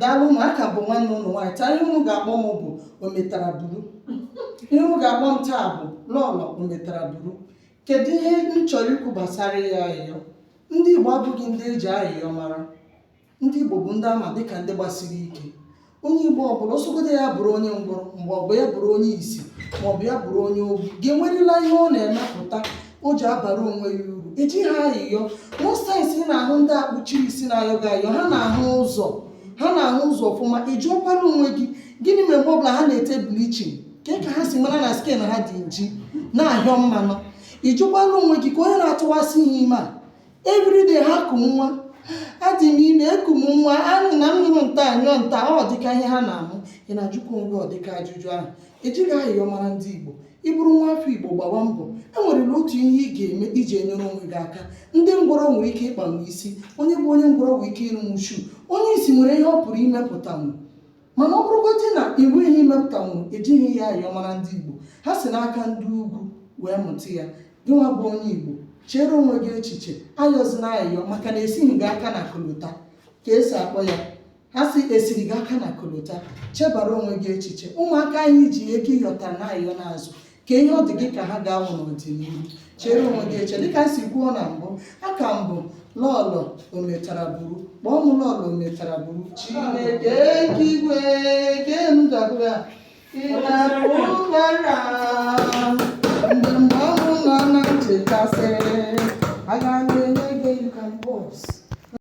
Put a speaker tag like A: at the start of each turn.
A: daalụ nụ aka m bụ nwanne ụnụ nwaanyị taa ihe ụnụ ga-akpọ m bụ ometara buru ihe ụnụ ga-akpọ m taa bụ lọlọ ometara buru kedu ihe m chọrọ ikwu gbasara ya ayịyọ ndị igbo abụghị ndị eji ayịyọ mara ndị igbo bụ ndị ama dịka ndị gbasiri ike onye igbo ọbụla ọ sọgodu ya bụrụ onye ngwọrọ mgbe ọbụ ya bụrụ onye isi maọbụ ya bụrụ onye ogbu ga-enwerịla ihe ọ na-emepụta o ji abara onwe ya uru ejighị ayịyọ most times ị na-ahụ ndị akpụchiri isi na-ayọ gị ayọ ha na-ahụ ụzọ ha na-ahụ ụzọ ọfụma ị jụọkwara onwe gị gịnị mere mgbe ọbụla ha na-ete bleaching kee ka ha si mara na skin ha dị nji na-ahịọ mmanụ ị jụkwara onwe gị ka onye na-atụwasị ha ime everyday ha eku m nwa adị m ime eku m nwa anụ na m nụrụ nta anyụọ nta ọ dịka ihe ha na-amụ ị na-ajụkwa onwe gị ọdịka ajụjụ ahụ ejighị ayịyọ mara ndị igbo ị bụrụ nwa afọ igbo gbawa mbọ enwerela otu ihe ị ga-eme iji enyere onwe gị aka ndị ngwọrọ nwere ike ịkpanwu isi onye bụ onye ngwọrọ nwere ike ịrụnwu shoe onye isi nwere ihe ọ pụrụ imepụtanwu mana ọ bụrụgodị na i nweghị ihe i mepụtanwu ejighị ayịyọ mara ndị Igbo ha si n'aka ndị ugwu wee mụta ya gịnwa bụ onye Igbo chere onwe gị echiche ayọzina ayọ maka na esighị gị aka na kolota ka esi akpọ ya ha si esiri gị aka na kolota chebara onwe gị echiche ụmụaka ahụ i ji ego ị yọtara na ayọ na-azụ ka ihe ọ dị gị ka ha ga-awụ n'ọdịnihu chere onwe gị echiche dịka m si kwuo na mbụ aka m bụ lọlọ ometara buru kpọọ m lọlọ ometara buru chineke nke igwe nke m ga-agụ ya ị na-akpụ ụbara mgbe mgbe ọnwụ nọ na nchekasị aga m enye gị ka mbọs